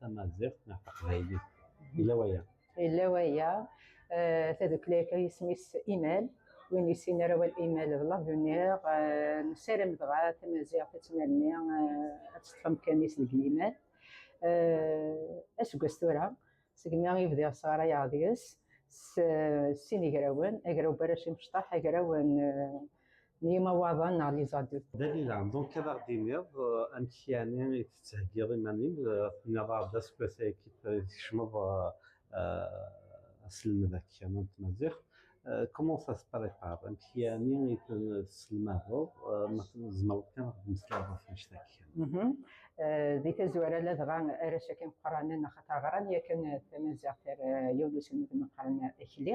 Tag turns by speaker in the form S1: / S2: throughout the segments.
S1: tamaziɣt neɣ taqbaylit yella waya yella waya eh, tadukli akka isem-is imal win yessin arawal imal d lavuniɣ eh, nessaram dɣa tamaziɣt ad tnalni eh, ad teṭṭef amkan-is deg yimal aseggas tura segmi i bdiɣ sɣarayeɣ deg-s sin igrawen agraw baracim cṭaḥ agraw n n yimawaḍen neɣ les adultes. Dalila, donc ad aɣ-d-tiniḍ euh, amek yani i tettheggiḍ iman-im, euh, tenniḍ-aɣ-d aseggas ayagi tkecmeḍ euh, aselmed akka n tmaziɣt, comment ça se prépare amek yani i tesselmadeḍ ma tzemreḍ kan ad d-meslayeḍ ɣef anect akka. Mhm. Di tazwara ladɣa arrac akken qranen axaṭer ɣran yakan tamaziɣt ar yiwen uselmed meqqren akli.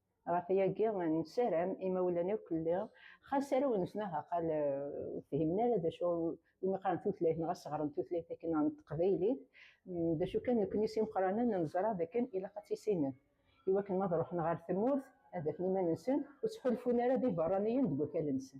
S1: Ɣef yagi, nessaram imawlan akk lliɣ, xas arraw-nsen aha qal ur fhimen ara d acu umi qqaren tutlayt neɣ as ɣren tutlayt akken neɣ n teqbaylit, d acu kan nekkni s imeqranen neẓra d akken ilaq ad tt-issinen i wakken ma ad ruḥen ɣer tmurt ad afen iman-nsen ur ttḥulfun ara d iberraniyen deg wakal-nsen.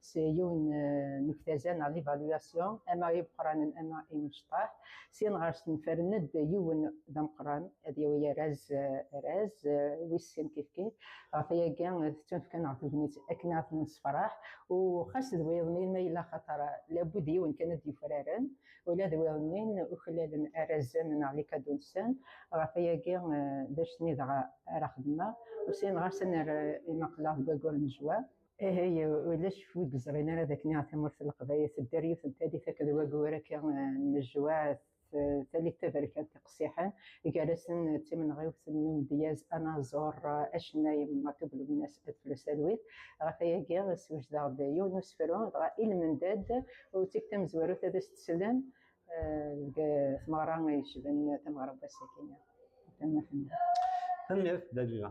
S1: s yiwen n uktaza neɣ d ivaluation ama imeqqranen ama imecṭaḥ sin ɣer snefren-d yiwen d ameqqran ad yawi araz araz wis sin kifkif ɣef ayagi tettunefka neɣ tegnit akken ad nessefraḥ u xas d wiḍen ma yella xaṭer labud yiwen kan ad yufraren ula d wiḍen uklalen arazen neɣ likadunsen ɣef ayagi d acu-nni dɣa ara xedmeɣ u sin ɣas ad nerr imaqlaɣ deg wayyur n zzwam. Aha ya ulac wi yeẓrin ara d akken tamurt n Leqbayel tedder yiwet n talit akked wagur akka n lejwaɛ talit taberkant iqsiḥen gar-asen d timenɣiwt n umedyaz anaẓur acennay Matub Lubnas At Flus Alwit. Ɣef wayagi swejdeɣ-d yiwen n usefru dɣa i lmendad u d tikta mezwarut ad as-teslen deg tmeɣra yecban tameɣra n wass-agi. Tanemmirt. Tanemmirt Dalila.